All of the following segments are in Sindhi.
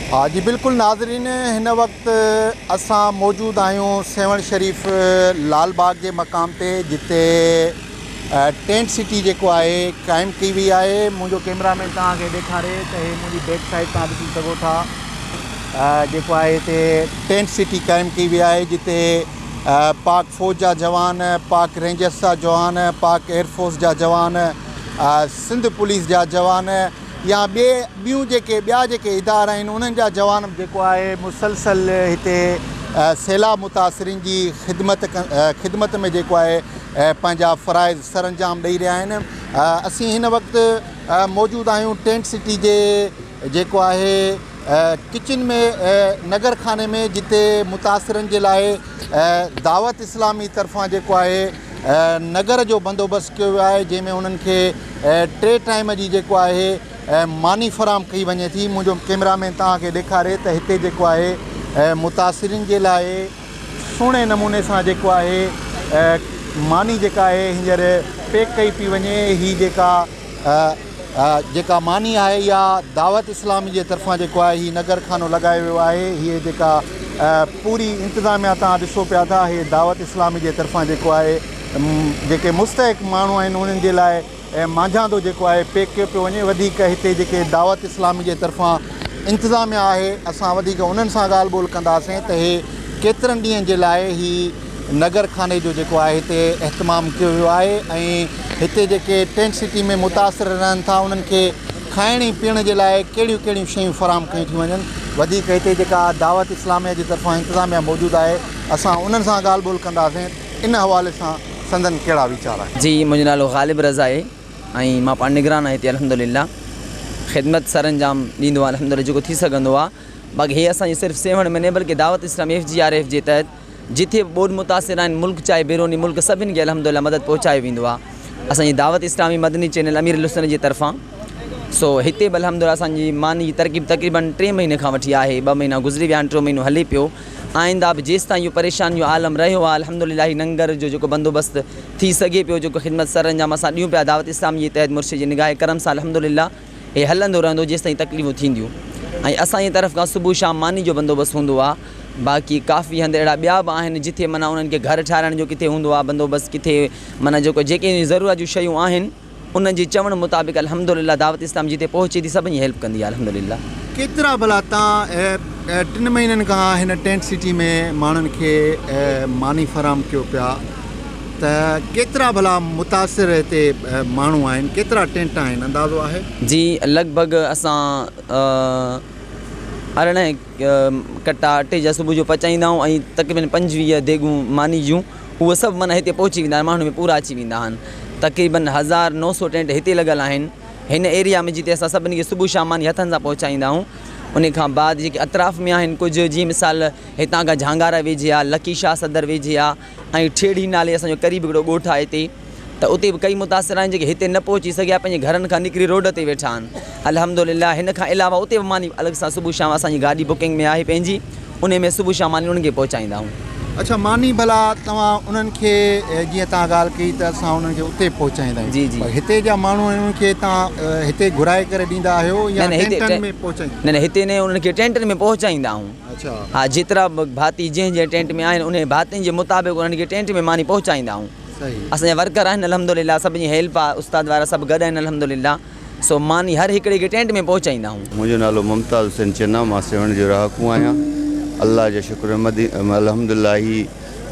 ها جي بلڪل ناظرين هن وقت اسان موجود آهيون سيوهڻ شريف لال باغ جي مقام تي جتي ٽينٽ سٽي جيڪو آهي قائم ڪئي وئي آهي منهنجو ڪيمرا مين توهان کي ڏيکاري ته هي منهنجي بيڪ سائيڊ توهان ڏسي سگهو ٿا جيڪو آهي هتي ٽينٽ سٽي قائم ڪئي وئي آهي جتي پاڪ فوج جا جوان پاڪ رينجرس جا جوان پاڪ ايئرفورس جا جوان سنڌ پوليس جا جوان يا ٻي ٻيون جيڪي ٻيا جيڪي ادارا آهن انهن جا جوان جيڪو آهي مسلسل هتي سيلاب متاثرين جي خدمت خدمت ۾ جيڪو آهي پنهنجا فرائض سرانجام ڏئي رهيا آهن اسين هن وقت موجود آهيون ٽينٽ سٽي جي جيڪو آهي ڪچن ۾ نگر خاني ۾ جتي متاثرن جي لاء دعوت اسلامي طرفان جيڪو آهي نگر جو بندوبست ڪيو ويو آهي جنهن ۾ انهن کي ٽي ٽائيم جي جيڪو آهي ماني فراهم ڪئي وڃي ٿي منهنجو ڪيمرا مين توهان کي ڏيکاري ته هتي جيڪو آهي متاثرين جي لاء سهڻي نموني سان جيڪو آهي ماني جيڪا آهي هينئر پيڪ ڪئي پئي وڃي هي جيڪا جيڪا ماني آهي يا دعوت اسلامي جي طرفان جيڪو آهي هي نگر خانو لڳايو ويو آهي هي جيڪا پوري انتظاميا توهان ڏسو پيا ٿا هي دعوت اسلامي جي طرفان جيڪو آهي جيڪي مستحق ماڻهو آهن انهن جي لاء مانجهاندو جيڪو آهي پيڪ ڪيو پيو وڃي وڌيڪ هتي جيڪي دعوت اسلامي جي طرفان انتظاميا آهي اسان وڌيڪ انهن سان ڳالهه ٻولهه ڪنداسين ته هي ڪيترن ڏينهن جي لاء هي نگر خاني جو جيڪو آهي هتي اهتمام ڪيو ويو آهي ۽ هتي جيڪي ٽينٽ سٽي ۾ متاثر رهن ٿا انهن کي کائڻ ۽ پيئڻ جي لاء ڪهڙيون ڪهڙيون شيون فراهم ڪيون ٿيون وڃن وڌيڪ هتي جيڪا دعوت اسلاميه جي طرفان انتظاميه موجود آهي اسان انهن سان ڳالهه ٻولهه ڪنداسين ان حوالي سان سندن ڪهڙا ويچار آهن. جي منهنجو نالو غالب رضا اهي ۽ مان پاڻ نگران آهي هتي الحمدلله خدمت سرانجام ڏيندو آهي الحمدلله جيڪو ٿي سگهندو آهي باقي هي اسان جي صرف سيوهڻ ۾ نه بلڪه Dawat Islami F G R F G تحت جتي به ٻوڏ متاثر آهن ملڪ چاهي بيروني ملڪ سڀني کي الحمدلله مدد پهچايو ويندو آهي اسان جي دعوت اسلامي مدني چينل اميرالسنت جي طرفان سو هتي به الحمدلله اسان جي ماني جي ترڪيب تقريبا ٽي مهيني کان وٺي آهي ٻه مهينا گذري ويا آهن ٽيون مهينو هلي پيو آئنده به جيستائين اهو پريشاني جو عالم رهيو آهي الحمدلله هي ننگر جو جيڪو بندوبست ٿي سگهي پيو جيڪو خدمت سرانجام اسان ڏيون پيا دعوت اسلامي جي تحت مرشد جي نگاهه ڪرم سان الحمدلله هي هلندو رهندو جيستائين تڪليفون ٿينديون ۽ اسان جي طرف کان صبح شام ماني جو بندوبست هوندو آ باقي ڪافي هنڌ اهڙا ٻيا به آهن جتي معنيٰ انهن کي گهر ٺهرائڻ جو ڪٿي هوندو آ بندوبست ڪٿي معنيٰ جيڪو جيڪي ضرورت جون شيون آهن انهن جي چوڻ مطابق الحمدلله دعوت اسلام جتي پهچي ٿي سڀني جي هيلپ ڪندي آ الحمدلله. ڪيترا ڀلا تان ٽن مهينن کان هن ٽينٽ سٽي ۾ ماڻهن کي ماني فراهم ڪيو پيا. ته ڪيترا ڀلا متاثر هتي ماڻهو آهن ڪيترا ٽينٽ آهن اندازو آهي. جي لڳ ڀڳ اسان ارڙهن ڪٽا اٽي جا صبح جو پچائيندا آهيون ۽ تقريبن پنجويهه ديڳون ماني جون اهي سڀ معنيٰ هتي پهچي ويندا آهن ماڻهن ۾ پورا اچي ويندا آهن تقريبن هزار نو سو ٽينٽ هتي لڳل آهن هن ايريا ۾ جتي اسان سڀني کي صبح شام ماني هٿن سان پهچائيندا آهيون ان کان بعد جيڪي اطراف ۾ آهن ڪجهه جي مثال هتان کان جهانگارا ويجهي آهي لڪي شاهه صدر ويجهي آهي ۽ ٺيڙهي نالي اسان جو قريب هڪڙو ڳوٺ آهي هتي ته اتي به ڪئي متاثر آهن جيڪي هتي نه پهچي سگهيا پنهنجي گهرن کان نڪري روڊ تي ويٺا آهن الحمدلله هن کان علاوه اتي به ماني الڳ سان صبح شام اسان جي گاڏي بڪنگ ۾ آهي پنهنجي انهي ۾ صبح شام ماني انهن کي پهچائيندا آهيون. اڇا ماني ڀلا توهان انهن کي جيئن توهان ڳالهه ڪئي ته اسان انهن کي اتي پهچائيندا آهيون جي جي پر هتي جا ماڻهو آهن انهن کي توهان هتي گهرائي ڪري ڏيندا آهيو نه يا نه هتي ٽينٽن ٽين ۾ پهچائيندا نه نه هتي نه انهن کي ٽينٽن ۾ پهچائيندا آهيون ها جيترا به ڀاتي جنهن جنهن ٽينٽ ۾ آهن انهي ڀاتين جي مطابق انهن کي ٽينٽ ۾ ماني پهچائيندا آهون اسان جا ورڪر آهن الحمدلله سڀ جي هيلپ آهي استاد وغيره سڀ گڏ آهن الحمدلله سو ماني هر هڪڙي کي ٽينٽ ۾ پهچائيندا آهون. منهنجو نالو ممتاز حسين چنا مان سيوهڻ جو رهاڪو آهيان الله جا شڪر الحمدلله هي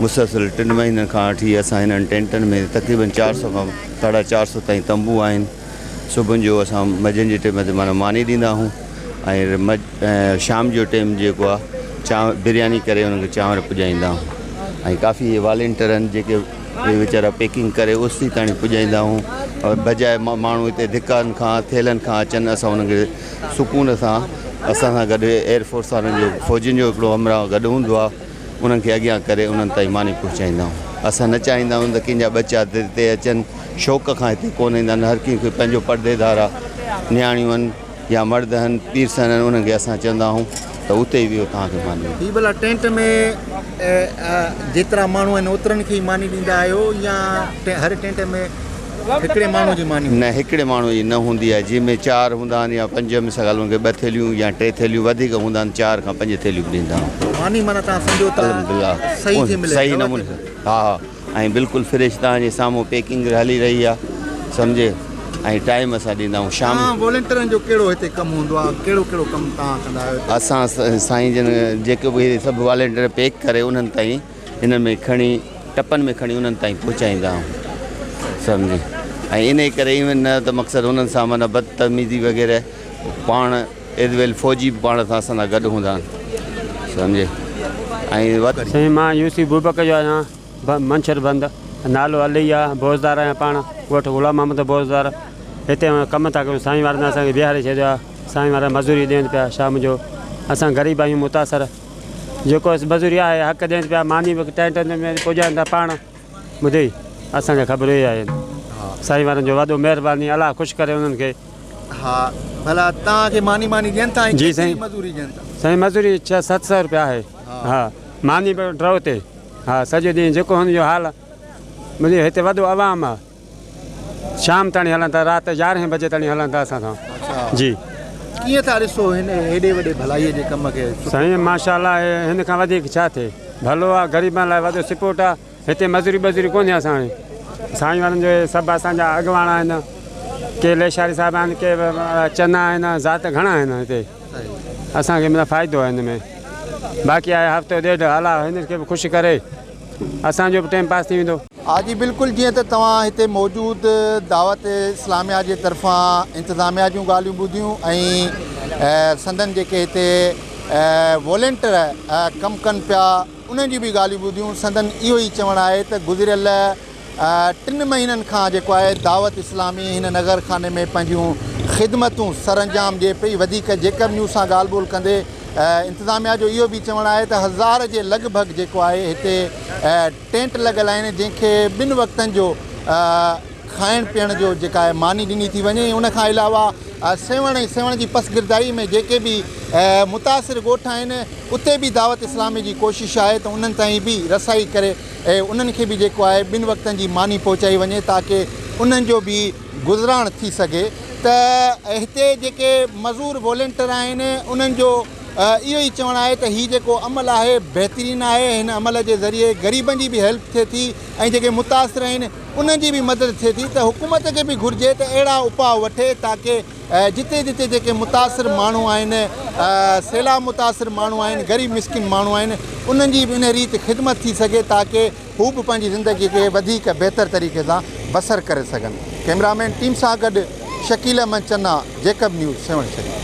مسلسل ٽن مهينن کان وٺي اسان هنن ٽينٽن ۾ تقريبن چار سئو کان ساڍا چار سئو تائين تنبو آهن صبح جو اسان مجن جي ٽيم تي معنيٰ ماني ڏيندا آهيون ۽ شام جو ٽيم جيڪو آهي چانور برياني ڪري انهن کي چانور پڄائيندا آهيون ۽ ڪافي اهي والينٽر آهن جيڪي اهي ويچارا پيڪنگ ڪري اوسيتي تائين پڄائيندا آهيون ۽ بجاء ماڻهو هتي ڌڪن کان ٿيلهن کان اچن اسان انهن کي سڪون سان اسان سان گڏ ايئر فورس وارن جو فوجين جو هڪڙو همراهه گڏ هوندو آهي انهن کي اڳيان ڪري انهن تائين ماني پهچائيندائون. اسان نه چاهيندائون ته ڪنهن جا ٻچا هتي اچن، شوق کان هتي ڪونه ايندا نه هر ڪنهن کي پنهنجو پڙديدار آ، نياڻيون هن يا مرد هن، پيرسن هن انهن کي اسان چوندا آهون ته اتي ئي ويهو توهان کي ماني ملندي. هي ڀلا ٽينٽ ۾ جيترا ماڻهو آهن اوترن کي ئي ماني ڏيندا آهيو يا هر ٽينٽ ۾ هڪڙي ماڻهو جي ماني هوندي. نه هڪڙي ماڻهو جي نه هوندي آهي جنهن ۾ چار هوندا آهن يا پنج مثال هن کي ٻه ٿيلهيون يا ٽي ٿيلهيون وڌيڪ هوندا آهن چار کان پنج ٿيلهيون به ڏيندا آهن. ماني معنيٰ تان سمجهو ته صحيح ٿي ملي صحيح نموني ها ها ۽ بلڪل فريش تان جي سامهون پيڪنگ هلي رهي آهي سمجهي ۽ ٽائيم سان ڏيندا آهون شام تان والنٽيرن جو ڪهڙو هتي ڪم هوندو آهي ڪهڙو ڪهڙو ڪم تان ڪندا آهيو هتي. اسان سائين جن جيڪي به سڀ والنٽير پيڪ ڪري انهن تائين هنن ۾ کڻي ٽپن ۾ کڻي انهن تائين پهچائيندا آهون سمجهي ۽ انهي ڪري ايون نه ته مقصد هنن سان معنيٰ بدتميزي وغيره پاڻ ايز ويل فوجي به پاڻ سان اسان سان گڏ هوندا آهن سمجهي ۽ سائين مان يوسف بوبڪ جو آهيان منڇر بند نالو علي آ بوزدار آهيان پاڻ ڳوٺ غلام محمد بوزدار هتي ڪم ٿا ڪريون سائين وارن اسان کي بيهاري ڇڏيو آ سائين وارا مزوري ڏين پيا شام جو اسان غريب آهيون متاثر جيڪو اس مزوري آهي حق ڏين پيا ماني به ٽائين ٽائين تي پڄائين ٿا پاڻ ٻڌي اسان کي خبرون ئي آهن سائين وارن جو وڏو مهرباني الله خوش ڪري انهن کي ها ڀلا تان کي ماني ماني ڏين ٿا جي سائين مزوري ڏين ٿا سائين مزوري 6 700 روپيا آهي ها ماني به ڊرو تي ها سڄو ڏين جيڪو هن جو حال مجھي هتي وڏو عوام آ شام تائين هلن ٿا رات يارهين بجي تائين هلن ٿا اسان سان جي ڪيئن ٿا ڏسو هن هيڏي وڏي ڀلائي جي ڪم کي سائين ماشاءالله هن کان وڌيڪ ڇا ٿئي ڀلو آ غريبن لاء وڏو سپورٽ آ هتي مزوري بزوري ڪونهي اسان هاڻي سائين وارن جو سڀ اسان جا اڳواڻ آهن ڪي ليشاري صاحب آهن ڪي چنا آهن ذات گهڻا آهن هتي اسان کي مطلب فائدو آ هن ۾ باقي آ هفتو ڏيڍ هلا هن کي به خوش ڪري اسان جو به ٽيم پاس ٿي ويندو. ها جي بلڪل جيئن ته توهان هتي موجود دعوت اسلاميه جي طرفان انتظاميه جون ڳالهيون ٻڌيون ۽ سندن جيڪي هتي والينٽر ڪم ڪن پيا انهن جون به ڳالهيون ٻڌيون سندن اهو ئي چوڻ آهي ته گذريل ٽن مهينن کان جيڪو آهي دعوت اسلامي هن نغر خاني ۾ پنهنجون خدمتون سرانجام ڏي پئي وڌيڪ جيڪب نيوز سان ڳالهه ٻولهه ڪندي انتظاميا جو اهو به چوڻ آهي ته هزار جي لڳ ڀڳ جيڪو آهي هتي ٽينٽ لڳل آهن جنهن کي ٻن وقتن جو کائڻ پيئڻ جو جيڪا آهي ماني ڏني ٿي وڃي ان کان علاوه سيوهڻ ۽ سيوهڻ جي پسگردائي ۾ جيڪي به متاثر ڳوٺ آهن اتي به دعوت اسلامي جي ڪوشش آهي ته انهن تائين به رسائي ڪري ۽ انهن کي به جيڪو آهي ٻن وقتن جي ماني پهچائي وڃي تاڪه انهن جو به گذران ٿي سگهي ته هتي جيڪي مزور والينٽر آهن انهن جو اهو ئي چوڻ آهي ته هي جيڪو عمل آهي بهترين آهي هن عمل جي ذريعي غريبن جي به هيلپ ٿئي ٿي ۽ جيڪي متاثر آهن انهن جي به مدد ٿئي ٿي ته حڪومت کي به گهرجي ته اهڙا اپاء وٺي تاڪه جتي جتي جيڪي متاثر ماڻهو آهن سيلاب متاثر ماڻهو آهن غريب مسڪين ماڻهو آهن انهن جي به ان ريت خدمت ٿي سگهي تاڪه هو به پنهنجي زندگي کي وڌيڪ بهتر طريقي سان بسر ڪري سگهن ڪئميرا مين ٽيم سان گڏ شڪيل احمد چنا جيڪب نيوز سيوهڻ شريف.